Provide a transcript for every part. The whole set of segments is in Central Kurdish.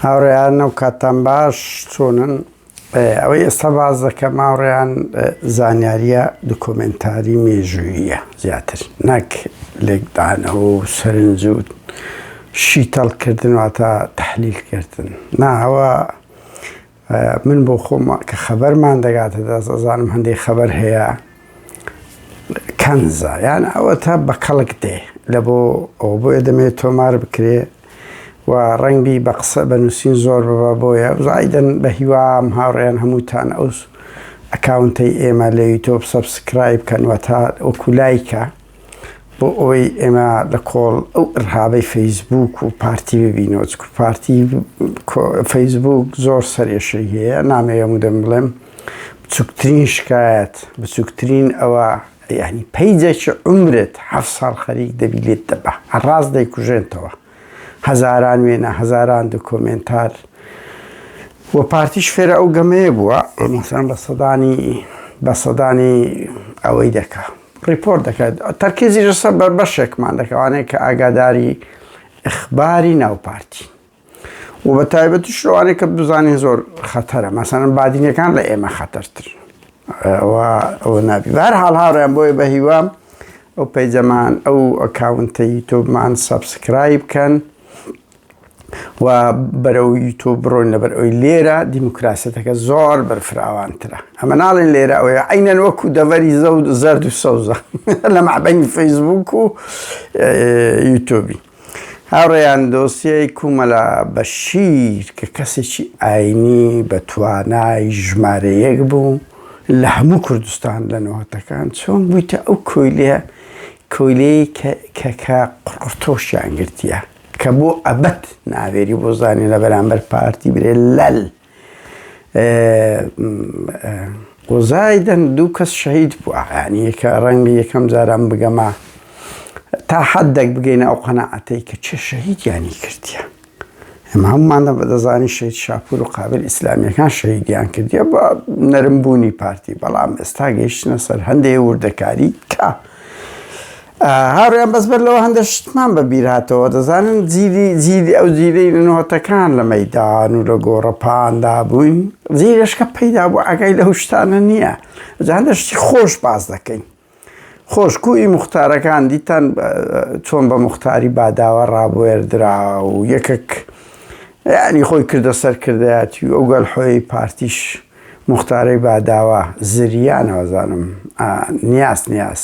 هاوڕێیان و کاتان باش چۆنن ئەوەی ئێستا باز دەکەم هاوڕێیان زانیاریە دکۆمنتاری مێژوویە زیاتر نەک لێکدانەوە و سەرنجوت شیتەڵکردن واتە تحلیلکردن ناوە من بۆ خۆم کە خەبەرمان دەگاتە دەست ئەزانم هەندێک خەبەر هەیە کەنزە یان ئەوە تا بە کەڵک دێ لە بۆ ئەو بۆیە دەمێت تۆمار بکرێ و ڕەنگبی بە قسە بە نووسین زۆر ببە بۆیە زایدن بە هیوام هاوڕێن هەمووتان ئەوس ئەکاونتەی ئێمە لە یوتۆب سەبسکرایب کەنوە تا ئۆکولایکە بۆ ئەوەی ئێمە لە کۆڵ ئەو ئرهابەی فەیسبووک و پارتی ببینەوە چکو پارتی فەیسبووک زۆر سەرێشەی هەیە نامەوێ مدەم بڵێم بچووکترین شکایەت بچووکترین ئەوە یعنی پەیجێکی عمرت حەفت ساڵ خەریک دەبی لێت دەبا هەر ڕاست دەیکوژێنتەوە هەزاران وێنە هەزاران دکۆمێنتار و پارتیش فێرە ئەو گەمەیە بووە مەسان بە سەدانی بە سەدانی ئەوەی دەکا ڕیپۆرت دەکات تەرکیزی ژەسە بەر بەشێکمان دەکەوانێت کە ئاگاداری ئەخباری ناو پارتی و بە تایبەتی شوانێک کە بزانین زۆر خەتەرە مەسەن بادینەکان لە ئێمە خەتەرتر ئەوە نابی بار حاڵ هاڕیان بۆیە بە هیوام ئەو پەیجەمان ئەو ئەکاونتە یوتۆبمان سەبسکرایب بکەن و بەرەو یوتۆب بڕۆین لەبەر ئەوی لێرە دیموکراسەتەکە زۆر بەرفراوانترە ئەمە ناڵێن لێرە ئەوەیە عینەن وەکو دەڤەری زەود زەرد و سەوزە لە مەعبەنی فەیسبوک و یوتۆبی هاوڕێیان دۆسیەی کومەلە بەشیر کە کەسێکی ئاینی بە توانای ژمارە یەک بوو لە هەموو کوردستان لە نۆهەتەکان چۆن بویتە ئەو کۆیلە کۆیلەی کە کە کە قڕقڕتۆشیان گرتیە کە بۆ ئەبەد ناوێری بۆ زانین لە بەرامبەر پارتی برێ لەل قوزای دەن دوو کەس شەهید بووە ینی یەکە ڕەنگە یەکەم جاران بگەمە تا حەددەک بگەینە ئەو قەنەعەتەی کە چێ شەهیدیانی کردیە ئەمە هەمومانە بە دەزانی شەید شاپور و قابل ئیسلامیەکان شەهیدیان کردیە بە نەرمبوونی پارتی بەڵام ئێستا گەیشتنە سەر هەندێ وردەکاری کە هاوڕێیان بەس بەر لەوە هەندە شتمان بە بیر هاتەوە دەزانن جیلی جیلی ئەو جیلی نۆتەکان لە مەیدان و لە گۆڕەپاندا بووین جیلشکە پەیدا بوو ئاگای لە هوشتانە نییە جا هەندە شتی خۆش باز دەکەین خۆشکوی مختارەکان دیتان چۆن بە مختاری باداوە ڕابێردرا و یەکێک ینی خۆی کردە سەرکردایەتی و ئەوگەل حۆی پارتیش مختارەی باداوە زریانەوەزانم نیاز نیاز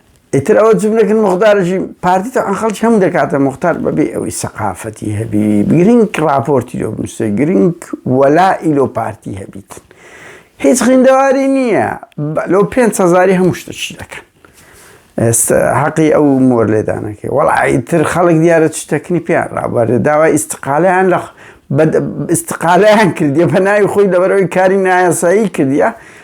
ئیتر ئەوە جم نەکن مختارژی پارتی تاان خەڵکی هەم دەکاتە مختار بەبێ ئەوەی سەقافەتی هەبی گرنگ ڕاپۆرتی لۆ بنووسێ گرنگ وەلا ئیلۆ پارتی هەبیت هیچ خوێندەواری نییە لۆ پێ هزاری هەموو شتەشی دەکەن ئێستا حەقی ئەو مۆر لێدانەکەی وەڵیتر خەڵک دیارە چ تەکنی پێیان ڕابارێ داوای ئیسقالیان لە ئیسقالیان کردیە بە ناوی خۆی دەبەرەوەی کاری نایاسایی کردە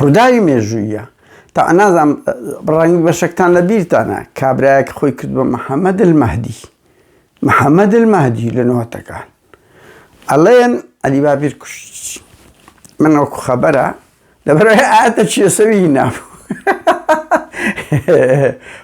ڕووداوی مێژووییە. تا نازانم ڕەنگە بەشێکتان لە بیرتانە، کابرایەک خۆی کرد بە محەمەد المەهدی. محەمەد المەهدی لە نۆتەکان. ئەڵێن عەلی بابیر کوشتی. من وەکو خەبەرە لەبەرەی ئاتە چێسەوی نابوو.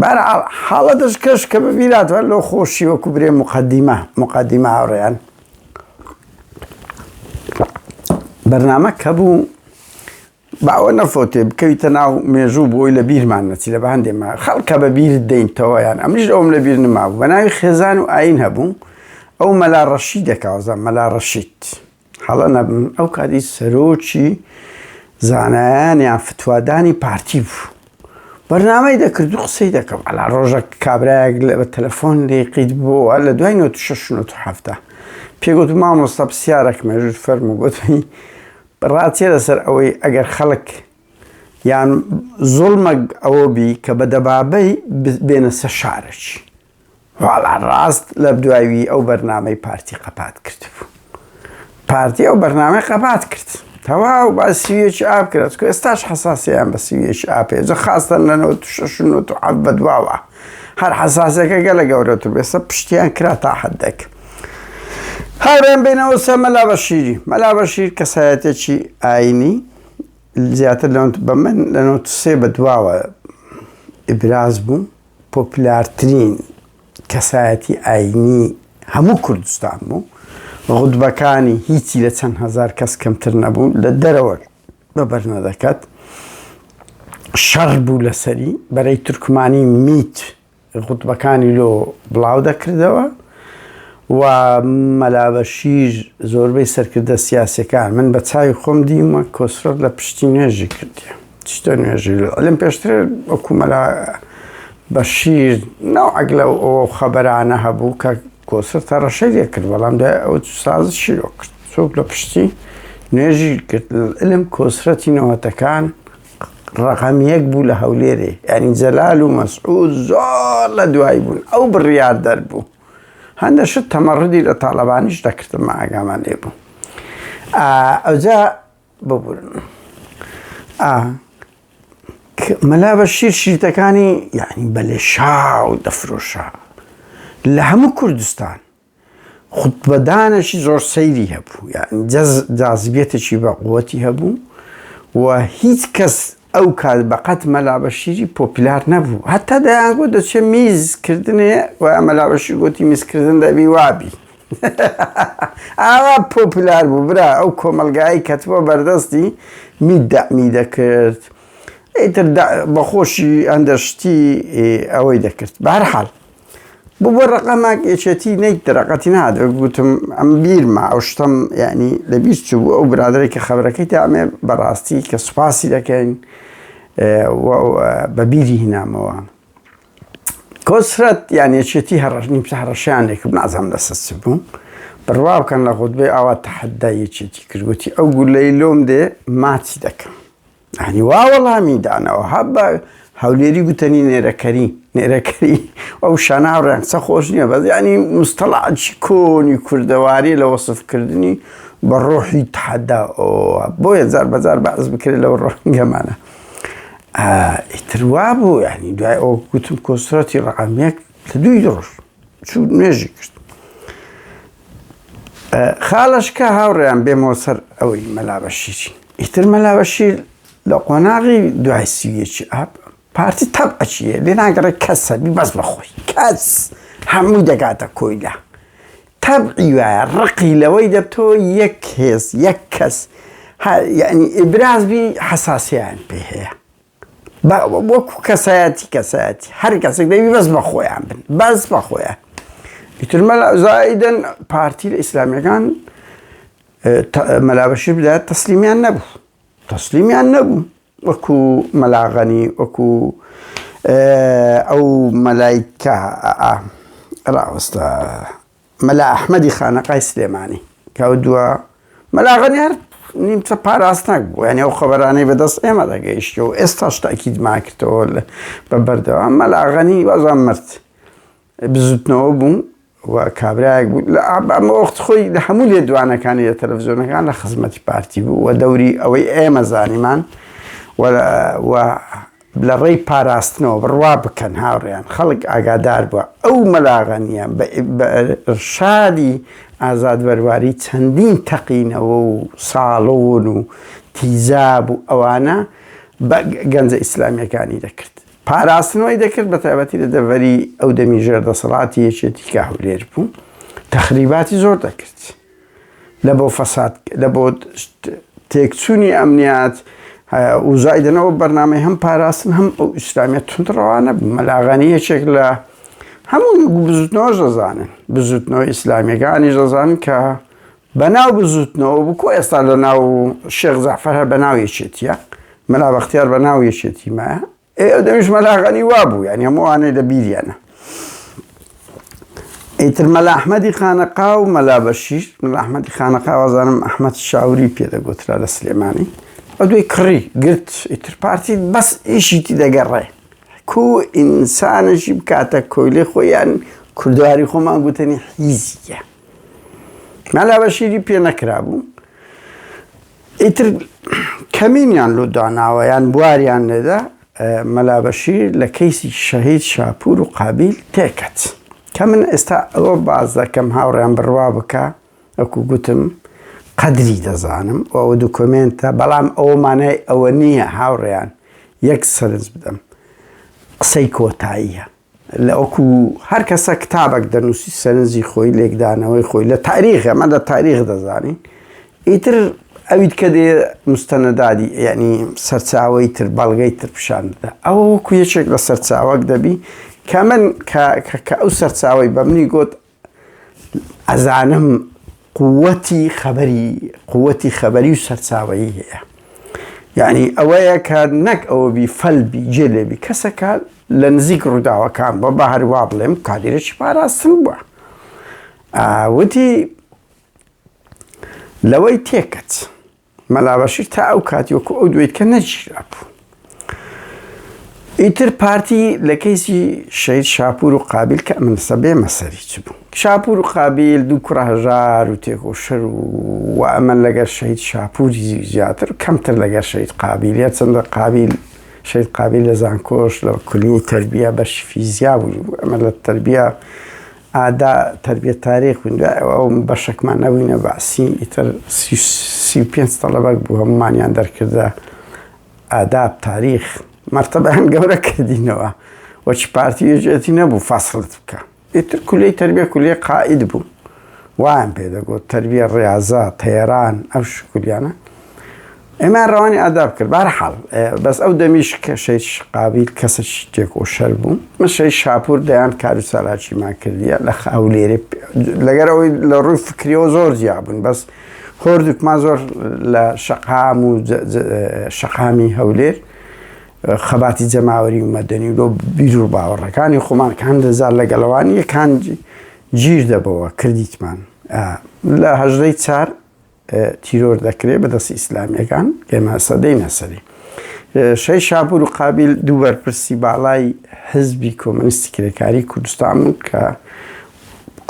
بەهەرحاڵ حاڵەتش کەش کە ببیناتەوە لۆ خۆشی وەکو برێ موقەدیمە موقەدیمە هاوڕێیان بەرنامە کە بوو باوە نەفۆتێ بکەویتە ناو مێژوو بۆی لە بیرمان نەچی لە باندێمە خەڵکە بە بیر دەینتەوەیان ئەمش ئەوم لە بیر نما بوو بە ناوی خێزان و ئاین هەبوو ئەو مەلا ڕەشی دەکاوزە مەلا ڕەشیت هەڵە نەبم ئەو کاتی سەرۆکی زانایان یان فتوادانی پارتی بوو بەرنامەی دەکرد و قسەی دەکەم ئەلا ڕۆژە کابراەک لە بە تەلەفۆن لێقیت بۆە لە دوای 1970 پێگوت مامۆستا پرسیارەک مێژوت فەرم و گوتنی ڕاتێ لەسەر ئەوەی ئەگەر خەڵک یان زۆڵمەگ ئەوە بی کە بە دەبابەی بێنە سە شارەچی واڵا ڕاست لەبدوای وی ئەو بەرنامەی پارتی قەپات کردبوو پارتی ئەو بەرنامەی قەپات کرد تەواو با سویەکی ئاپ کرد چکە ئێستاش حەساسیان بە سویەکی ئاپێ جە خاستن لە 1960 بە دواوە هەر حەساسەکە گەلە گەورەتر بێسە پشتیان کرا تا حدەک هاورێن بینەوە سە مەلا بەشیری مەلا بەشیر کەسایەتێکی ئاینی زیاتر لەونت بە من لە 93 بە دواوە ئیبراز بوو پۆپلارترین کەسایەتی ئاینی هەموو کوردستان بوو، غوتبەکانی هیچی لە چەند هەزار کەس کەمتر نەبوو، لە دەرەوە بە بەرنەدەکەت، شەڕ بوو لەسەری، بەرەی تورکمانی میت غوتبەکانی لۆ بڵاو دەکردەوە و مەلا بەشیر زۆربەی سەرکردە سیاسیەکان، من بە چاوی خۆم دیومە کۆسرەت لە پشتی نوێژی کردیە. شتە نوێژی لەم پێشترێ ئۆکومەلا بەشیر ناوعەک لە ئەو خەبەرانە هەبوو کە کۆسە تەڕەشەی لێکرد بەڵام دای ئەو سازی شیرۆ کرد چۆک لە پشتی نوێژی کرد علم کۆسرەتی نەوەتەکان ڕقەم یەک بوو لە هەولێرێ ئەنی جەلال و مەسعود زۆر لە دوای بوون ئەو بڕیار دەربوو هەندە شت تەمەڕدی لە تاالبانیش دەکردم ئاگامان لێ بوو ئەوجا ببورن ئا ک مەلا بەشیر شیرتەکانی یەعنی بە لێشاو دەفرۆشا لە هەموو کوردستان خوتبەدانێکی زۆر سەیری هەبوو یەعنی جەز جازبیەتێکی بە قوەتی هەبوو و هیچ کەس ئەو کات بە قەت مەلا بەشیری پۆپیلار نەبوو هەتا دەیان گۆ دەچێ میز کردنێ و مەلا بەشیر گۆتی میزکردن دەبی وابی ئاوا پۆپیلار بوو برا ئەو کۆمەلگایی کەتبووە بەردەستی میت دەمی دەکرد ئیتر بەخۆشی ئەندەشتی ئەوەی دەکرد بارحال بۆ بۆ ڕقەماک یەکێتی نیت دەرەقەتی نادە گوتم ئەم بیرما ئەو شتم یعنی لە بیست چوو بوو ئەو برادێک کە خەبەرەکەی دامێ بەڕاستی کە سوپاسی دەکەین بە بیری هینامەوە کۆسرەت یان یەکێتی هەڕەش نیمچە هەڕەشیانێک نازم لەسەس بوو بڕوا بکەن لە خودبێ ئاوا تحدای یەکێتی کردوتی ئەو گولەی لۆم دێ ماچی دەکەم یانی وا وەڵامی دانەوە هە بە هەولێری گوتەنی نێرەکەری نێرەکەری ئەو شانە هاوڕێن قسە خۆش نییە بەس ینی مستەڵعاتی کۆنی کوردەواری لە وەصفکردنی بە ڕۆحی تحدا بۆ هزار بەزار بەعز بکرێت لەو ڕۆنگەمانە ئیتروا بوو ینی دوای ئەو گوتم کۆسرەتی ڕعامێک لە دووی دڕۆژ چوو نوێژی کرد خاڵشکە هاوڕێیان بێمۆ سەر ئەوەی مەلابەشیری ئیتر مەلابەشیر لە قۆناغی دوای سیویەکی ئاپ پارتی تەب ئەچیە لێ ناگەڕێ کەسە بی بەس بەخۆی کەس هەموو دەگاتە کۆیلا تەبعی وایە ڕقی لەوەی دەبتۆ یەک هێز یەک کەس یعنی ئیبراز بی حەساسیان پێ هەیە بە وەکو کەسایەتی کەسایەتی هەر کەسێک دەبی بەس بە خۆیان بن بەس بە خۆیان ئیتر مەلا زایدن پارتی لە ئیسلامیەکان مەلابەشی بدات تەسلیمیان نەبوو تەسلیمیان نەبوو وەکو مەلاغەنی وەکو ئەو مەلایکە ڕاوەستە مەلا ئەحمەدی خانەقای سلێمانی کە ئەو دووە مەلا غەنی هەر نیمچە پاراستنەک بوو یعنی ئەو خەبەرانەی بەدەست ئێمە دەگەیشت و ئێستاش تاکیدمان کردەوە بە بەردەوام مەلا غەنی وازان مرد بزوتنەوە بوو و کابراایەک بوو لە ئابامە وەخت خۆی لە هەموو لێ دوانەکانی لە تەلەڤزیۆنەکان لە خزمەتی پارتی بوو و دەوری ئەوەی ئێمە زانیمان و لە ڕێی پاراستنەوە بڕوا بکەن هاوڕێیان خەڵک ئاگادار بووە ئەو مەلا غەنیە بە ئیرشادی ئازاد بەرواری چەندین تەقینەوە و ساڵۆن و تیزاب و ئەوانە بە گەنجە ئیسلامیەکانی دەکرد پاراستنەوەی دەکرد بە تایبەتی لە دەڤەری ئەو دەمی ژێر دەسەڵاتی یەکێتی کە هەولێر بوو تەخریباتی زۆر دەکرد. لە بۆ فەساد لە بۆ تێکچوونی ئەمنیات وزایدنەوە بەرنمەی هەم پاراستن هەم ئەو ئیسلامیە تونندڕەوانە مەلاغانی یەکێک لە هەموو بزوتنەوە دەزانن بزوتنەوە ئیسلامیەکانی دەزان کە بەناو بزوتنەوە بکو ئێستا لە ناو شێخ زەفەرە بەناو یەکێتیە مەلا بەختیار بەناو یەکێتی مایە ئێ ئەو دەمیش مەلا غەنی وا بوو یانی هەموو ئەوانەی لە بیریانە ئیتر مەلا ئەحمەدی خانەقا و مەلا بەشیر مەلا ئەحمەدی خانەقا وازانم ئەحمەد شاوری پێدەگوترا لە سلێمانی ئە دوی کڕی گرت ئیتر پارتی بەس ئیشیتی دەگەڕێ کو ئینسانەشی بکاتە کۆیلێ خۆیان کوردواری خۆمان گوتنی حیزیە مەلا بەشیری پێ نەکرابوو ئیتر کەمینیان لۆ داناوە یان بواریان لێدا مەلا بەشیر لە کەیسی شەهید شاپور و قابیل تێکەت کە من ئێستا ئەوە باس دەکەم هاوڕێیان بڕوا بکە وەکو گوتم قەدری دەزانم و ئەوە دوکۆمێنتە بەڵام ئەوە مانای ئەوە نییە هاوڕێیان یەک سەرنج بدەم قسەی کۆتاییە لە وەکو هەر کەسە کتابەک دەنووسی سەرنجی خۆی لێکدانەوەی خۆی لە تاریخ ئەمە لە تاریخ دەزانین ئیتر ئەویت کە دێ مستەنەدادی یعنی سەرچاوی تر بەڵگەی تر پیشان دەدا ئەوە وەکو یەکێک لە سەرچاوەک دەبی کە من کە ئەو سەرچاوی بە منی گوت ئەزانم قووەتی خەبەری قووەتی خەبەری و سەرچاوەیی هەیە یعنی ئەوەیە کە نەک ئەوە بی فەلبی جێ لێبی کەسەکە لە نزیک ڕووداوەکان بە بە هەروا بڵێم کادیرێکی پاراستن بووە وتی لەوەی تێکەت. مەلا بەشیر تا ئەو کاتی وەکو ئەو دوێتکە نەگیرابوو. ئیتر پارتی لە کەیسی شەید شاپور و قابل کە ئەمن سەبێ مەسەری چ بوو شاپور و قابل دوو کوڕە هەژار و تێکۆشەر و و ئەمەن لەگەر شەید شاپوری زیاتر کەمتر لەگەر شەید قابل یا چەندە قابل شەید قابل لە زانکۆش لە کولی تربیە بەش فیزیا بوو ئەمە لە تربیە ئادا تەربیە تارێ خوینرا ئەو بەشەکمان نەبووینە بەعسی ئیتر سی و پێنج تەڵەبەک بوو هەمومانیان دەرکردە ئاداب تاریخ مەرتەبەیان گەورە کردینەوە وەچ پارتی یەجێتی نەبوو فاسڵت بکە ئیتر کولی تربیە کولی قائید بوو وایان پێدەگوت تربیە ڕاضە تەێران ئەو شکولیانە ئێمەیان ڕەوانی ئاداب کرد بارحاڵ بەس ئەو دەمیش کە شەیش قابیل کەسەکی تێک و شەر بوو من شەی شاپور دەیان کار و ساراچیمان کردیە لە خاولێری لەگەر ئەوەی لە ڕووی فکریەوە زۆر جیابوون بەس هۆردوکمان زۆر لە شەقام و شەقامی هەولێر خەباتی جەماوەری و مەدەنی و لۆ بیر و باوەڕەکانی خۆمان کان دەزار لە گەڵەوانی یەکان گیر دەبەوە کردیتمان لە هەژدەی چار تیرۆر دەکرێت بەدەستی ئیسلامیەکان ئێمە سەدەی نەسەری شەی شاپور و قابل دوو بەرپرسی باڵای حزبی کۆمەنیستی کرێکاری کوردستان بوون کە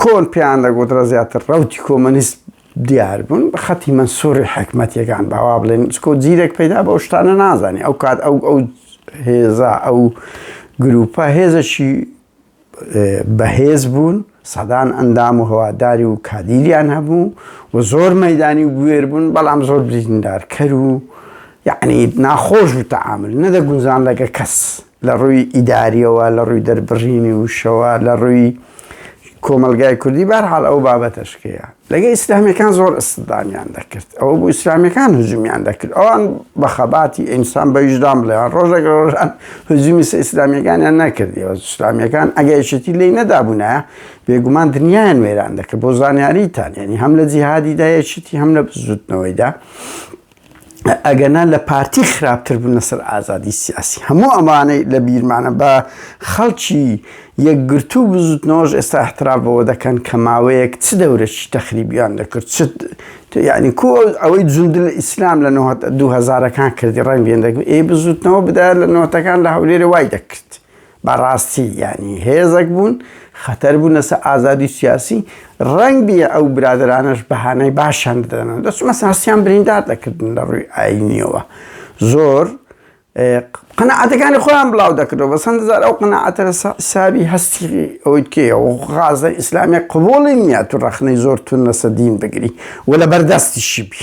کۆن پێیان دەگوترە زیاتر ڕوتی کۆمەنیست دیار بوون بە خەتی من سوڕی حکمەتەکان باوا بڵێن سکۆ زیرەک پەیدا بە شتانە نازانێ ئەو کات ئەو ئەو هێزا ئەو گروپە هێزەشی بەهێز بوون، سەدان ئەندام و هەواداری و کادیریان هەبوو و زۆر مەیدانی و بوێر بوون، بەڵام زۆر بریندارکەر و یەعنی ناخۆش بوو تەعامول، نەدەگونجان لەگە کەس، لە ڕووی ئیداریەوە، لە ڕووی دەربڕینی وشەوە، لە ڕووی کۆمەڵگای کوردی، بەهەرحاڵ ئەوە بابەتە شکەیە. لەگەڵ ئیسلامیەکان زۆر ئستدامیان دەکرد ئەوە بوو ئیسلامیەکان هجومیان دەکرد ئەوان بە خەباتی ئینسان بە ویژدان بڵێن ڕۆژێک ڕۆژان هجومی سە ئیسلامیەکانیان نەکردیەوە ئیسلامیەکان ئەگەیشتی لی نەدابوونایە بێگومان دنیایان وێران دەکرد بۆ زانیاریتان یعنی هەم لە جیهادیدا یەکیتی هەم لە بزوتنەوەیدا ئەگەنا لە پارتی خراپتر بوون لەسەر ئازادی سیاسی هەموو ئەمانەی لە بیرمانە بە خەڵکی یەکگرتوو بزوتنەوەش ئێستا احترام بەوە دەکەن کە ماوەیەک چ دەورەکی تەخریبیان دەکرد چ یعنی کۆ ئەوەی جوند لە ئیسلام لە 2000ەکان کردی ڕەنگێن دەکرد ئێ بزوتنەوە بدایە لە نەوەتەکان لە هەولێرە وای دەکرد بەڕاستی یانی هێزەک بوون خەتەر بوون لەسەر ئازادی سیاسی ڕەنگ بیە ئەو برادرانەش بەهانای باشیان بدەنەوە دەست مەساسیان بریندار دەکردن لە ڕووی ئاینیەوە زۆر قەنەعاتەکانی خۆیان بڵاو دەکردەوە بە سند زار ئەو قەنەعاتە سابی هەستی ئەوەی کێە و غازە ئیسلامی قوبڵی نیە تو ڕەخنەی زۆر تون لەسە دین بگری و لە بەردەستیشی بی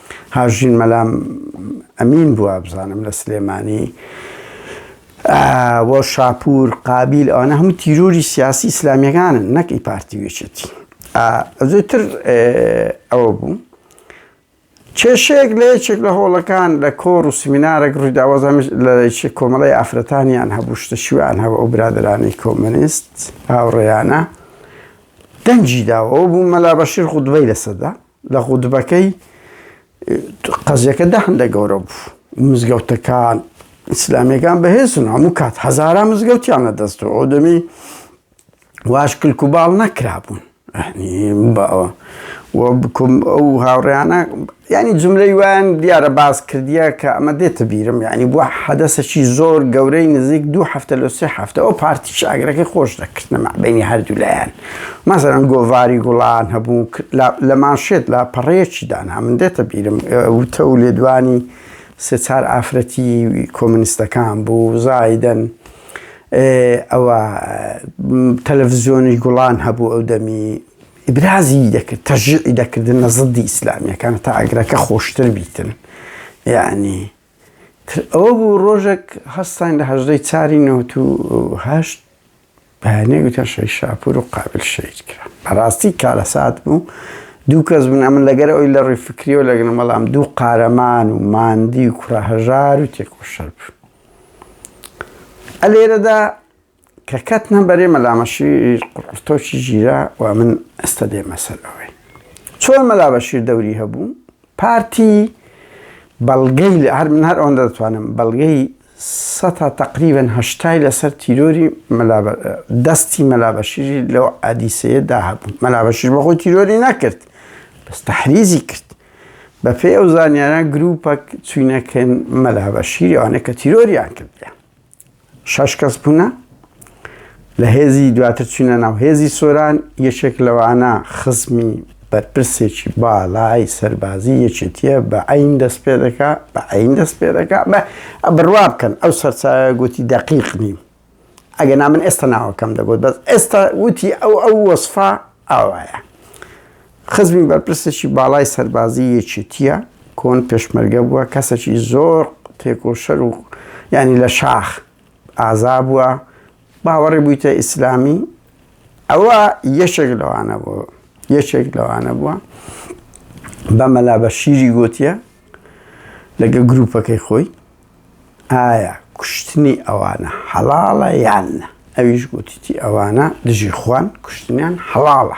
هاوژین مەلام ئەمین بوو وابزانم لە سلێمانی بۆ شاپور قابیل ئەوانە هەموو تیرۆری سیاسی ئیسلامیەکانن نەکی پارتی وێچێتی زۆتر ئەوە بوو کێشێک لە یەکێک لە هۆڵەکان لە کۆڕ و سمینارێک ڕوویداوەزم لە کۆمەڵی ئافرەتانیان هەبوو شتە شویان هەوە ئەو برادرانی کۆمەنیست هاوڕێیانە دەنجی داوە بوو مەلا بەشیر خودبەی لەسەدا لە غوتبەکەی قەزیەکە دە هەندە گەورە بوو مزگەوتەکان ئیسلامیەکان بەهێزن هەموو کات هەزاران مزگەوتیان لە دەستەوە ئەو دەمی واش کلک و باڵ نەکرابوون باوە بکم ئەو هاوڕیانە ینی جملەی وایان دیارە باز کردیە کە ئەمە دێتە بیرم ینی بووە حەدەسەکی زۆر گەورەی نزیک دوو هەفتە لە سێ هەفتەەوە پارتیش ئاگرەکەی خۆش دەکردنەمە بینی هەردوو لایەن. مەسەلەن گۆڤاری گوڵان هەبوو لە مانشێت لاپەڕەیەکی دانا، من دێتە بیرم وتە و لێدوانی سێ چار ئافرەتی کۆمۆنیستەکان بوو زایدەن ئەوە تەلەفزیۆنی گوڵان هەبوو ئەو دەمی ئیبرازی دەکرد تەژیعی دەکردنە زدی ئیسلامیەکان تا ئەگرەکە خۆشتر بیتن یانی. تر ئەوە بوو ڕۆژێک هەستاین لە هەژدەی چاری نەوەت و هەشت بەیانێ گوتیان شەهید شاپور و قابل شەهید کرا بەڕاستی کارەسات بوو دوو کەس بوون ئەمن لەگەر ئەوی لە ڕووی فکریەوە لەگەن بەڵام دوو قارەمان و ماندی و کوڕە هەژار و تێکۆشەر بوو ئەلێرەدا کە کەتنە بەرێ مەلا بەشیر قڕقڕتۆکی گیرا و من ئێستا دێمە سەر ئەوەی چۆن مەلا بەشیر دەوری هەبوو پارتی بەڵگەی لە هەر من هەر ئەوەندە دەتوانم بەڵگەی سەتا تقریبن هەشتای لەسەر تیرۆری دەستی مەلابەشیری لەو ئادیسەیەدا هەبوو مەلابەشیر بەخۆی تیرۆری نەکرد بەس تحریزی کرد بە پێ ئەو زانیاران گروپەک چوینەکەن مەلابەشیری ئەوانە کە تیرۆریان کردیان شەش کەس بوونە لە هێزی دواتر چوونە ناو هێزی سۆران یەکێک لەوانە خزمی بەرپرسێکی باڵای سەربازی یەکێتیە بە ئەین دەست پێ دەکا بە ئەین دەست پێ دەکا بە بڕوا بکەن ئەو سەرچاوە گوتی دەقیق نیم ئەگە نامن ئێستا ناوەکەم دەگوت بەس ئێستا وتی ئەو ئەو وەسفا ئاوایە خزمی بەرپرسێکی باڵای سەربازی یەکێتییە، کۆن پێشمەرگە بووە، کەسێکی زۆر تێکۆشەر و یانی لە شاخ ئازا بووە، باوەڕی بوویتە ئیسلامی، ئەوە یەکێک لەوانە بۆ یەکێک لەوانە بووە بە مەلا بە شیری گوتیە لەگە گروپەکەی خۆی ئایا کوشتنی ئەوانە حەڵاڵە یان ئەویش گوتیتی ئەوانە دژی خوان کوشتنیان حەڵاڵە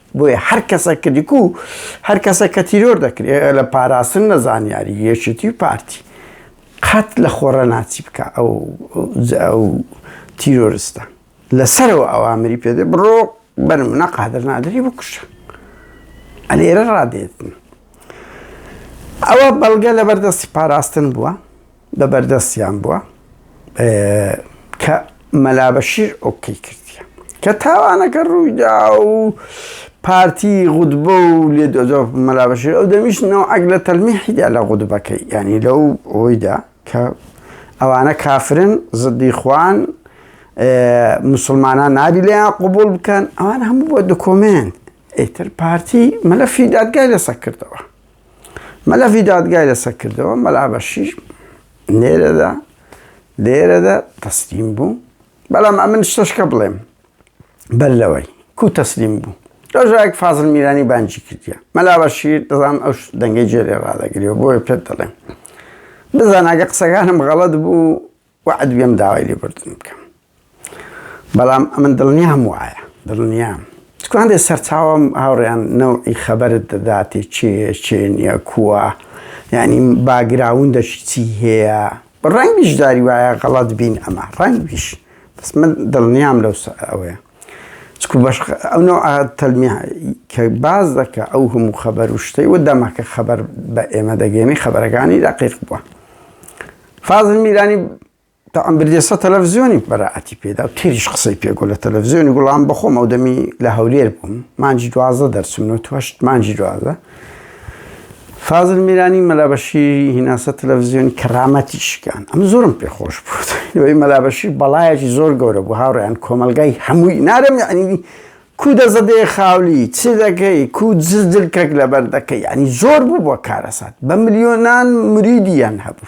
بۆیە هەر کەسە کە دیکو هەر کەسە کە تیرۆر دەکرێت لە پاراستن لە زانیاری یەکێتی و پارتی قەت لە خۆڕە ناچی بکە ئەو تیرۆرستە لەسەرەوە ئەوامری پێدە بڕۆ بەرمنە قادر نادری بکوشە ئەلێرە ڕادێتن ئەوە بەڵگە لە بەردەستی پاراستن بووە بە بەردەستیان بووە کە مەلابەشیر ئۆکەی کردیە کە تاوانەکە ڕوویدا و پارتی غودبە و لێ دۆزۆ مەلابەشیر ئەو دەمیش نەوەک لە تەلمیحیدا لە غودبەکەی ینی لەو ئەویدا کە ئەوانە کافرن زدی خوان مسلمانان نابی لەیان قوبول بکەن ئەوان هەموو بۆ دکۆمنت ئیتر پارتی مەلەفی دادگای لەسەر کردەوە مەلەفی دادگای لەسەر کردەوە مەلا بەشیر نێرەدا لێرەدا تەسلیم بوو بەڵام ئەمن شتەشکە بڵێم بەر لەوەی کو تەسلیم بوو ڕۆژایەک فازل میرانی بانجی کردیە مەلا بەشیر دەزان ئەو دەنگی جێرێ ڕادەگری و بۆیە پێت دەڵێم بزاناگە قسەکانم غەڵت بوو وەعد بێم داوای لێبوردن بکەم بەڵام ئەمن دڵنیام وایە دڵنیام چکاندێ سەرچاوم هاوڕێیان نەوعی خەبەرت دەداتێ چێ چێ نییە کووە یعنی باگراون دەشی چی هەیە ڕەنگیش داری وایە غەڵت بین ئەمە ڕەنگیش بەس من دڵنیام لەو ئەوەیە چکو بەش ئەو نەوع تەلمی کە باز دەکە ئەو هەموو خەبەر و شتەی و دەمەکە خەبەر بە ئێمە دەگەێنی خەبەرەکانی دەقیق بووە فازل میرانی تاعم بردێسە تەلەڤزیۆنی بەرائەتی پێدا و تێریش قسەی پێگو لە تەلەڤزیۆنی گوڵام بەخۆم ئەو دەمی لە هەولێر بووم مانجی دوازە دەرچمن و توەشت مانجی دوازە فازل میرانی مەلابەشی هیناسە تەلەڤزیۆنی کەرامەتی شکان ئەم زۆرم پێ خۆش بووی مەلابەشی بەڵایەکی زۆر گەورە بوو هاوڕیان کۆمەلگای هەمووی نارم یعنی کو دەزەدەیە خاولی چ دەکەی کو جزدل کەک لەبەر دەکەی یانی زۆر بوبوە کارەسات بە ملیۆنان مریدی یان هەبو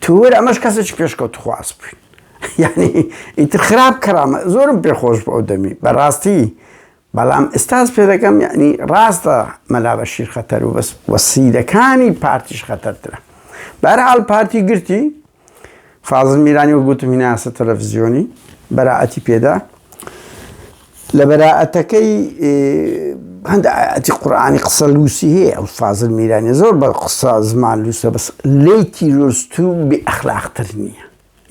تو وەر ئەمەش کەسەکی پێشکەوت خواز بوی یانی ئیتر خراپ کەرامە زۆرم پێ خۆش بو ئەو دەمی بە راستی بەڵام ئستاز پێ دەکەم یانی راستە مەلا بەشیر خەتەرو بەس وە سیدەکانی پارتیش خەتەرترە بەرحال پارتی گرتی فازل میرانی و گوتم هیناسە تەلەڤزیۆنی بەراعەتی پێدا لە بەراعەتەکەی هەند ئاتی قورآانی قسە لوسی هەیە ئەو فازل میرانی زۆر بە قسە زمان لوسە بەس لی تیرۆست و بێ ئەخلاقتر نییە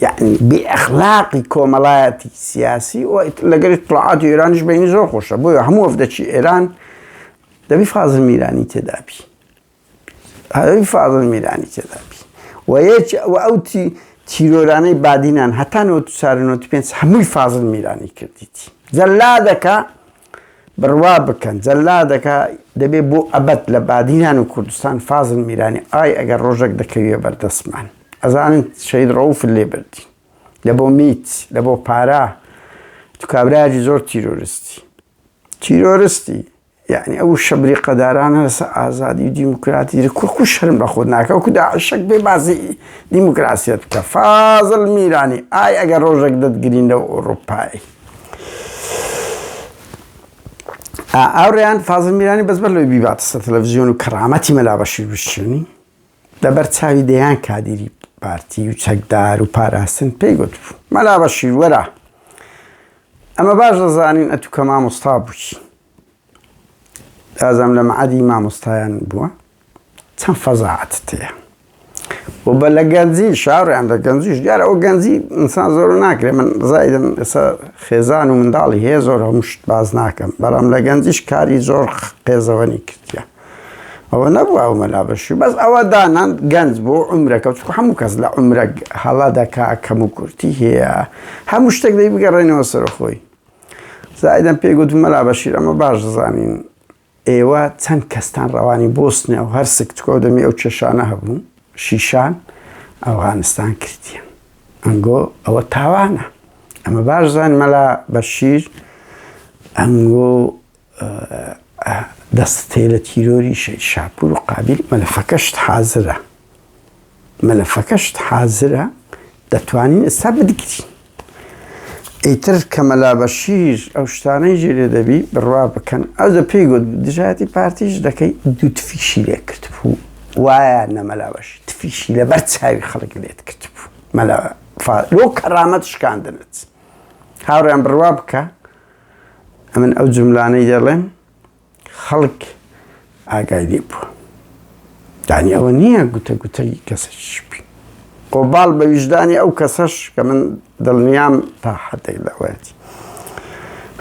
یعنی بێ ئەخلاقی کۆمەڵایەتی سیاسی و لەگەری طلعاتی ئێرانیش بینی زۆر خۆشە بۆیە هەموو ئەفدەچی ئێران دەبی فازل میرانی تێدابی ئەی فازڵ میرانی تێدا بی و یەک و ئەو تی تیرۆرانەی بادینان هەتا نۆ چار نۆ پێنج هەمووی فازڵ میرانی کردیتی جەلادەکە بڕوا بکەن جەلادەکە دەبێ بۆ ئەبەت لە بادینان و کوردستان فازل میرانی ئای ئەگەر ڕۆژێک دەکەویە بەردەستمان ئەزانن شەید ڕەوف لێ بردی لە بۆ میت لە بۆ پارە تو کابراجی زۆر تیرۆرستی تیرۆرستی یەعنی ئەو وشە بریقەدارانە لەسەر ئازادی و دیموکراتی دە کورکو شەرم بە خۆت ناکە وەکو داعشەک بێ باسی دیموکراسیت بکە فازل میرانی ئای ئەگەر ڕۆژێک دەتگرین لەو ئەوروپای ئاوریان فازل میرانی بەس بەر لەوەی بیباتەسە تەلەڤزیۆن و کەرامەتی مەلا بەشیر بشچێنی لەبەر چاوی دەیان کادیری پارتی و چەکدار و پاراستن پێی گوت مەلا بەشیر وەرە ئەمە باش دەزانین ئەتوو کە مامۆستا بووی ئازام لە مەعادی مامۆستایان بووە چەند فەزاعەت تەیە و بە لە گەنجی شارڕیان دە گەنجیش دیارە ئەو گەنجی ئینسان زۆر ناکرێت من زایدن ئێستا خێزان و منداڵی هەیە زۆر هەمشت باز ناکەم بەڵام لە گەنجیش کاری زۆر قێزەوەنی کردە ئەوە نەبوو ئەو مەلا بەشی بەس ئەوە دانان گەنج بۆ عمرەکە چ هەموو کەس لە عمرە هەڵا دەکا کەم و کورتی هەیە هەموو شتێک دەی بگەڕێنەوە سەرخۆی زاهیدەم پێی گوت، مەلا بەشیر ئەمە باش دەزانین ئێوە چەند کەستان ڕەوانی بۆسنیا و هەرسک تکۆ دەمی ئەو کێشانە هەبوون شیشان ئەوغانستان کردیان ئەنگۆ ئەوە تاوانە ئەمە باش زان مەلا بەشیر ئەنگۆ دەستتێ لە تیرۆری شەید شاپور و قابیل مەلەفەکەشت حازرە مەلەفەکەشت حازرە دەتوانین ئستا بدگرین ئیتر کە مەلا بەشیر ئەو شتانەی ژێرێ دەبی بڕوا بکەن ئەو دە پێی گوت دژایەتی پارتیش دەکەی دوو تفیشی لێ کرد بوو وایە نەمەلا بەش تفیشی لەبەر چاوی خەڵک لێت کرد بوو مەلا لۆ کەڕامەت شکاندنت هاوڕیان بڕوا بکە ئەمن ئەو جملانەی دەڵێم خەڵک ئاگای لێ بووە دانی ئەوە نییە گوتە گوتەی کەسش بی قۆباڵ بە ویژدانی ئەو کەسەش کە من دڵنیام تا حدێک لەوەتی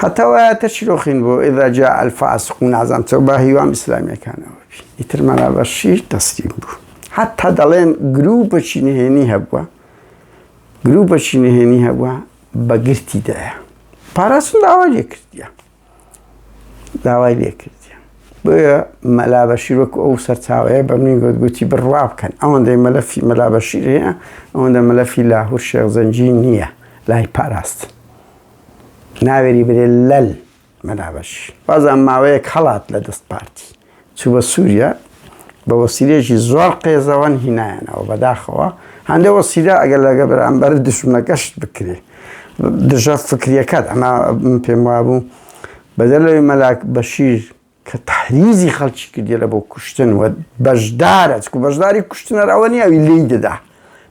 هەتاوایەتە چیرۆخین بۆ ئێدا جا ئەلفاس و نازان چەو با هیوام ئیسلامیەکانەوە بی ئیتر مەرابەشی تەسلیم بوو حتا دەڵێن گروو بەچی نهێنی هەبووە گروپەکی نهێنی هەبووە بە گرتی دایە پاراستن داوای لێکردە داوای لێکردە بۆیە مەلا بەشیر وەکو ئەو سەرچاوەیە بە منی گوت گوتی بڕوا بکەن ئەوەندەی مەلەفی مەلا بەشیر هەیە ئەوەندە مەلەفی لاهور شێخ زەنجی نییە لای پاراست ناوێری برێ لەل مەلا بەش بازان ماوەیەک هەڵات لە دەست پارتی چوو بە سووریا بە وەسیلەیەکی زۆر قێزەوەن هینایەنەوە بەداخەوە هەندە وەسیلە ئەگەر لەگە بەرامبەر دشمنەکەشت بکرێ دژە فکریەکەت ئەما پێم وابوو بەدەر لەوی مەلاک بەشیر کە تحریزی خەڵکی کردێ لە بۆ کوشتن و بەشدارە چکو بەشداری کوشتنەر ئەوە نیە ئەوی لی دەدا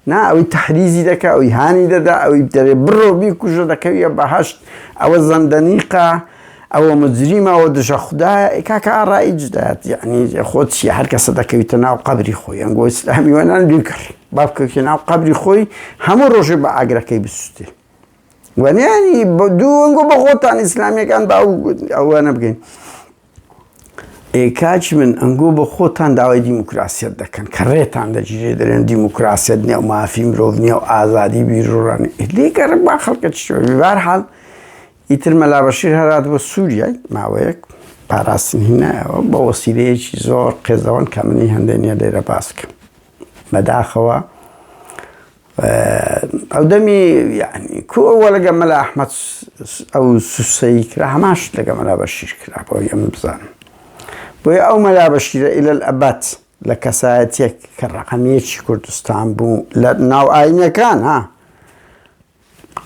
نا ئەوی تەحریزی دەکا ئەوی هانی دەدا ئەوی دەرێ بڕۆ بیکوژە دەکەویە بەهەشت ئەوە زەندەنیقە ئەوە مجریمە ئەوە دژە خودایە ئەی کاکە ئاڕایی جدات یعنی خۆ چیە هەر کەسە دەکەویتە ناو قەبری خۆی ئەنگۆ ئیسلامی وەنان دوکڕ بابکەوتە ناو قەبری خۆی هەموو ڕۆژێ بە ئاگرەکەی بسووتێ وەنیانی بە دوو ئەنگۆ بە خۆتان ئیسلامیەکان باو ئەوە نەبگەین ئێ کاچ من ئەنگۆ بە خۆتان داوای دیموکراسیت دەکەن کە ڕێتان دەگیرێ دەرێن دیموکراسیت نیە و مافی مرۆڤ نیە و ئازادی بیرڕانی لێگەڕ با خەڵکە چوار حال ئیتر مەلا بەشیر هەرات بۆ سووریای ماوەیەک پاراستن هینایەوە بە وەسیلەیەکی زۆر قێزەوەن کە منی هەندێک نیە لێرە باسکە بەداخەوە ئەو دەمی یعنی کو ئەوە لەگە مەلا ئەحمەد ئەو سوسەی کرا هەماش لەگە مەلا بەشیر کرا بۆ یەم بزان بۆیە ئەو مەلا بەشیرە ئیلە ئەبات لە کەسایەتێک کە ڕقەمیەکی کوردستان بوو لە ناو ئاینەکان ها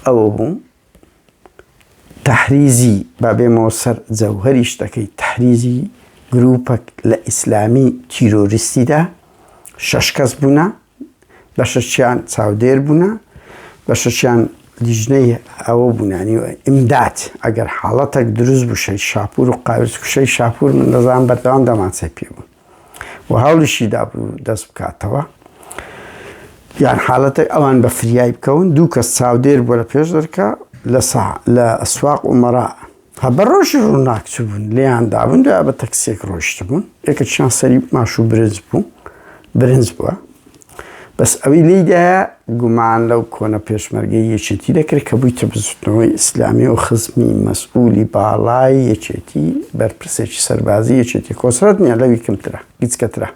ئەوە بوو تحریزی با بێمەوە سەر جەوهری شتەکەی تحریزی گروپەک لە ئیسلامی تیرۆریستیدا شەش کەس بوونە بەشەکیان چاودێر بوونە بەشەکیان لیژنەی ئەوە بوونانی و ئیمداد ئەگەر حاڵەتێک دروست بووشەی شاپور و قاوێت کوشەی شاپور من دەزان بەردەوام دەمانچەی پێ بوو و هەوڵیشی دابوو دەست بکاتەوە یان حالەتە ئەوان بە فریای بکەون دوو کەس چاودێر بۆ لە پێش دەرکە لە سا لە ئەسواق و مەرا هە بە ڕۆژی ڕووناک چ بوون لێیان دابوون دوای بە تەکسێک ڕۆشت بوون یەکە چیان سەری ماش و برنج بوو برنج بووە بەس ئەوی لیدایە گومان لەو کۆنە پێشمەرگەی یەکێتی دەکرد کە بووی تەبزوتنەوەی ئیسلامی و خزمی مەسئولی باڵای یەکێتی بەرپرسێکی سەربازی یەکێتی کۆسرەت نیە لەوی کەمترە گچکەترە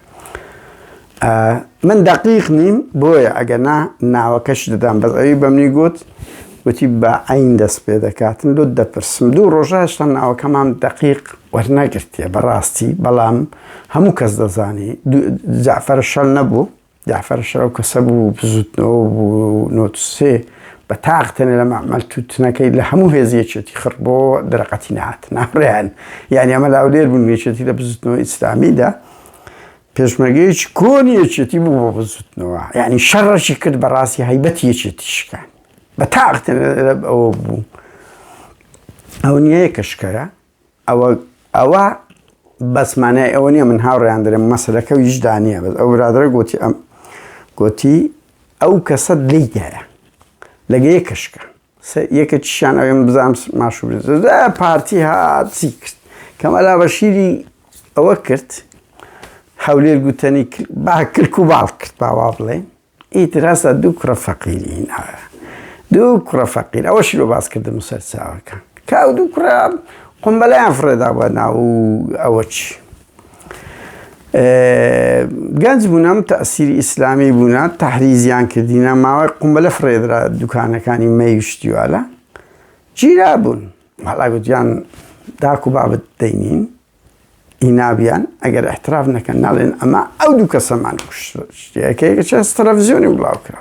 من دەقیق نیم بۆیە ئەگەنا ناوەکەش دەدام بەس ئەوی بەمنی گوت وتی بە عین دەست پێ دەکاتن لۆ دەپرسم دوو ڕۆژاشتا ناوەکەمان دەقیق وەرنەگرتێ بەڕاستی بەڵام هەموو کەس دەزانی جعفرە شەل نەبوو جعفرە شەرەو کەسە بوو بزوتنەوە بوو نۆتسێ بە تاقتێنە لە مەعمەل توتنەکەی لە هەموو هێزیەکێتی خڕ بۆ دەرەقەتی نهات ناڕێن یعنی ئەمە لاولێر بوون وێچێتی لە بزوتنەوە ئیسلامیدا پێشمەرگەیەکی کۆنی یەکێتی بوو بۆ بزوتنەوە یعنی شەڕەشی کرد بەڕاستی هەیبەت یەکێتی شکان بە تاقت ئەوە بوو ئەو نیەیە کە شکەرە ئەوە ئەوە بەسمانای ئەوە نیە من هاوڕیان درم مەسلەکە و هیچدا نیە بەس ئەو برادرە گوتی ئەم گوتی ئەو کەسە لیدایە لەگەیە کەشکە سە یەکەکیشیان ئەوێ من بزانم ماشو زە پارتی هات چی کرد کە مەلا بەشیری ئەوە کرد هەولێر گوتەنی کرد با کلک و باڵ کرد با وا بڵێین ئیتر هەستا دوو کوڕە فەقیری هینا دوو کوڕە فەقیر ئەوەشی لۆ باس کردم سەر چاوەکان کە ئەو دوو کوڕە قومبەلەیان فڕێدا بە ناو ئەوە چی گەنج بوونە تەسیری ئیسلامی بوونە تحریزیان کردینە ماوەی قومبەلە فرێدرا دوکانەکانی مەیشتیوالە گیرا بوون مەڵاگوتیان داکو بابت دەینین ئینابیان ئەگەر احتراف نەکەن ناڵێن ئەمە ئەو دوو کەسەمان کوشتەکەی کە چەس تەلەڤزیۆنی بڵاو کرا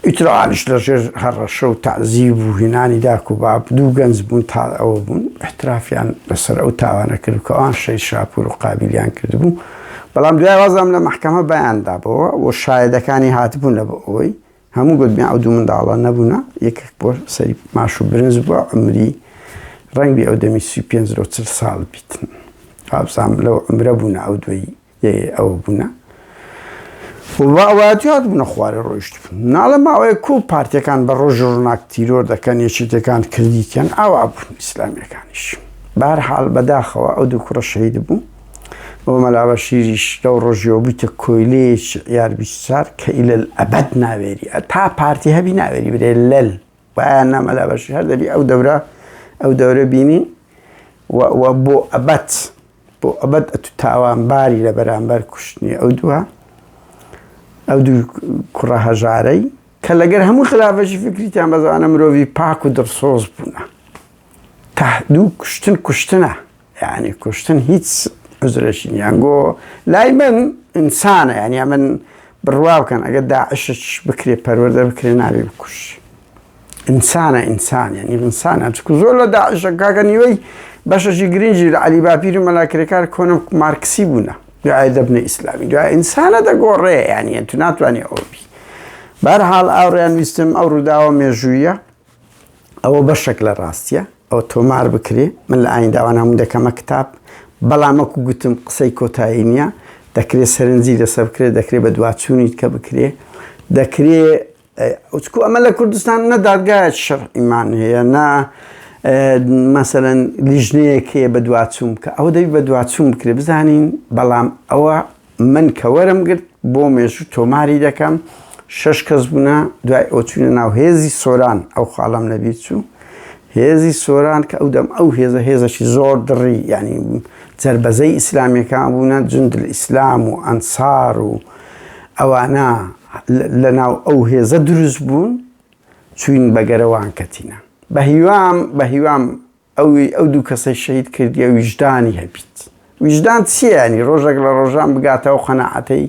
ئیتر عالیش لە ژێر هەڕەشە و تەعزیب و هینانی داک و باب، دوو گەنج بوون تا ئەوە بوون ئیحترافیان لە سەر ئەو تاوانە کرد کە ئەوان شەهید شاپوور و قابیلیان کرد بوو، بەڵام دوای وازیان لە مەحکەمە بایان دابۆوە و شایەدەکانی هاتبوون لە بۆ ئەوەی هەموو گوتبیان ئەو دوو منداڵە نەبوونە، یەکێک بۆ سەری ماش و برنج بووە عومری ڕەنگبی ئەو دەمی سی و پێنج لۆ چل ساڵ بیتن، وابزانم لەو عومرە بوونە ئەو دووی. یەی ئەوە بونە وڵا ئەوە جواد بونە خوارێ ڕۆیشت ناڵە ماوەیە کو پارتەکان بە ڕۆژ ڕووناک تیرۆر دەکەن یەکێتەکان کردیکەن ئاوا بون ئیسلامیەکانیش بار حال بەداخەوە ئەو دوو کوڕە شەید بوو بۆ مەلاوە شیریش لەو ڕۆژیەوە بوویتە کۆیلەیەک یار بیسار کە ئیلل ئەبەد ناوێری تا پارتی هەبی ناوێری برێ لەل وایە نامەلا بەشی هەر دەبی ئەو دەورە ئەو دەورە بینین و بۆ ئەبەت بۆ ئەبەد ئەتو تاوانباری لە بەرامبەر کوشتنی ئەو دووە ئەو دوو کوڕە هەژارەی کە لەگەر هەموو خلافەشی فکریتیان بەزانە مرۆڤی پاک و دڕسۆز بوونە تا دوو کوشتن کوشتنە یعنی کوشتن هیچ عزرەشین یانگۆ لای من ئینسانە یعنی من بڕوا بکەن ئەگەر داعشش بکرێ پەروەەردە بکرێ نابێ بکوش ئینسانە ئینسان یعنی ئینسانە چکو زۆر لە داعشە کاکە نیوەی بەشەشی گرنگی لە علی باپیر و مەلاکرێکار کۆنم مارکسی بوونە دوای دەبنە ئیسلامی دوای ئینسانە دەگۆڕێ یانە تو ناتوانانی ئەوبی بار حاڵ ئاڕیان ویستم ئەو ڕووداوە مێژوویە ئەوە بەشێک لە ڕاستیە ئەو تۆمار بکرێ من لە ئاین داوان هەموو دەکەمە کتاب بەڵامەکو گوتم قسەی کۆتایی نییە دەکرێت سەرنجی لەسەر بکرێت دەکرێت بە دواچوونیت کە بکرێ دەکرێت وتکو ئەمە لە کوردستان نە دادگایەکی شەرعیمان هەیە نە مەسەەن لیژنەیەک هەیە بە دواچوون بکە ئەوە دەبی بە دواچوون بکرێ بزانین بەڵام ئەوە من کە وەرم گرت بۆ مێژوو تۆماری دەکەم شش کەس بوونە دوای ئۆچوونە ناو هێزی سۆران ئەو خاڵم لەبیر چوو هێزی سۆران کە ئەو دەم ئەو هێزە هێزەشی زۆر دڕی ینی جربەزەی ئیسلامیەکان بوونە جندل ئیسلام و ئەنسار و ئەوانە لە ناو ئەو هێزە دروست بوون چوین بە گەرەوان کەتینە بە هیوام بە هیوام ئەوی ئەو دوو کەسەی شەید کردیە ویژدانی هەبیت ویژدان چیانی ڕۆژێک لە ڕۆژان بگاتەوە قەنەعەتەی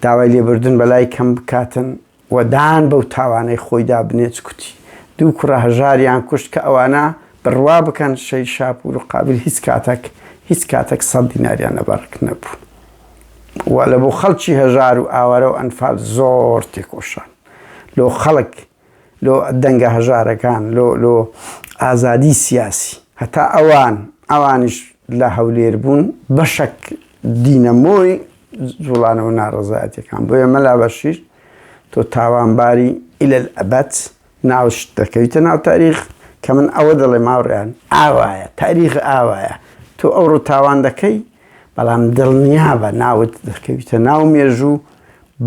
داوای لێبردن بەلای کەم بکاتن و دان بەو تاوانەی خۆیدا بنێچ کوتی دوو کوڕە هەژاریان کوشت کە ئەوانە بڕوا بکەن شەی شاپور و قابل هیچ کاتەک هیچ کاتەک سەد دیناریان لەبەڕک نەبوو و لە بۆ خەڵکی هەژار و ئاوارە و ئەنفال زۆر تێکۆشان لۆ خەڵک لۆ دەنگە هەژارەکان لۆ لۆ ئازادی سیاسی هەتا ئەوان ئەوانش لە هەولێر بوون بەشک دینەمۆی جوڵانەوە ناڕزایەتەکان بۆیە مەلا بەشیر تۆ تاوانباری ئیلە ئەبەت ناوشت دەکەویتە ناو تاریخ کە من ئەوە دەڵێم هاوڕێیان ئاوایە تاریخ ئاوایە تۆ ئەوڕۆ تاوان دەکەی بەڵام دڵنیابە ناوت دەکەویتە ناو مێژوو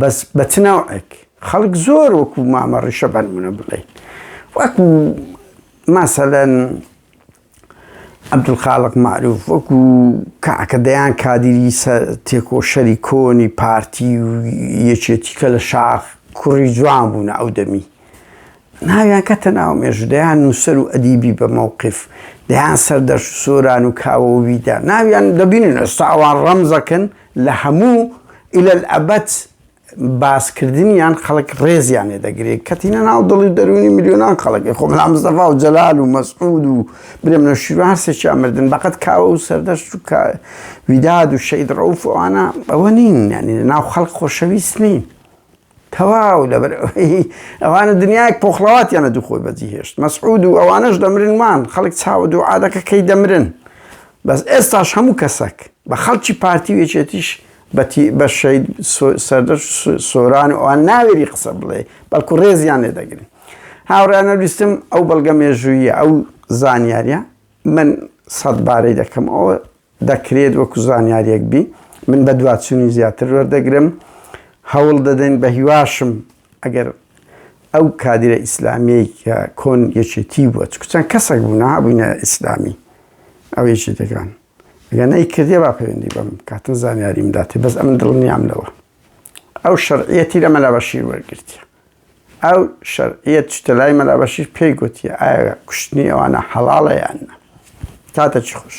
بەس بە چ ناوعێک خەڵک زۆر وەکو مامە ڕیشە بەنمونە بڵێ وەکو مەسەلەن عەبدولخالق مەعروف وەکو کاکە دەیان کادیری سە تێکۆشەری کۆنی پارتی و یەکێتی کە لە شاخ کوڕی جوان بوونە ئەو دەمی ناویان کەتە ناو مێژوو دەیان نووسەر و ئەدیبی بە مەوقیف دەیان سەر دەشت و سۆران و کاوە و ویدا ناویان دەبینن ئێستا ئەوان ڕەمزەکن لە هەموو ئیلەلئەبەد باسکردنیان خەڵک ڕێزیان لێ دەگرێ کەتینە ناو دڵی دەروونی ملیۆنان خەڵک خۆ مەلا مستەفا و جەلال و مەسعود و برێم لە شیرو هەرسێکیان مردن بەقەت کاوە و سەردەشت و ویداد و شەید ڕەوف ئەوانە ئەوە نین یعنی ناو خەڵک خۆشەویست نین تەواو لەبەر ئەوانە دنیایەک پۆخڵەواتیانە دوو خۆی بەجی هێشت مەسعود و ئەوانەش دەمرنمان خەڵک چاوە دوو عادەکە کەی دەمرن بەس ئێستاش هەموو کەسەک بە خەڵکی پارتی وێچێتیش بەتی بە شەید سەردەش سۆران و ئەوان ناوێری قسە بڵێ بەڵکو ڕێزیان لێ دەگرن هاوڕانە ویستم ئەو بەڵگە مێژوویە ئەو زانیاریە من سەد بارەی دەکەم ئەوە دەکرێت وەکو زانیاریەک بی من بە دوواچنی زیاتر وەردەگرم هەوڵ دەدەین بە هیواشم ئەگەر ئەو کادرە ئیسلامیەی کە کۆن یەکێتی بووە چکچەند کەسێک بوونا بووینە ئیسلامی ئەو یەکێتەکان گە نەی کردێ با پەیوەندی بەم کاتن زانیاری مداتێ بەس ئەمن دڵنیام لەوە ئەو شەرعەتی لە مەلابەشیر وەرگرتیە ئەو شەرعەت شتە لای مەلابەشیر پێی گوتیە ئایا کوشتنی ئەوانە حەڵاڵە یاننا کاتە چ خوش.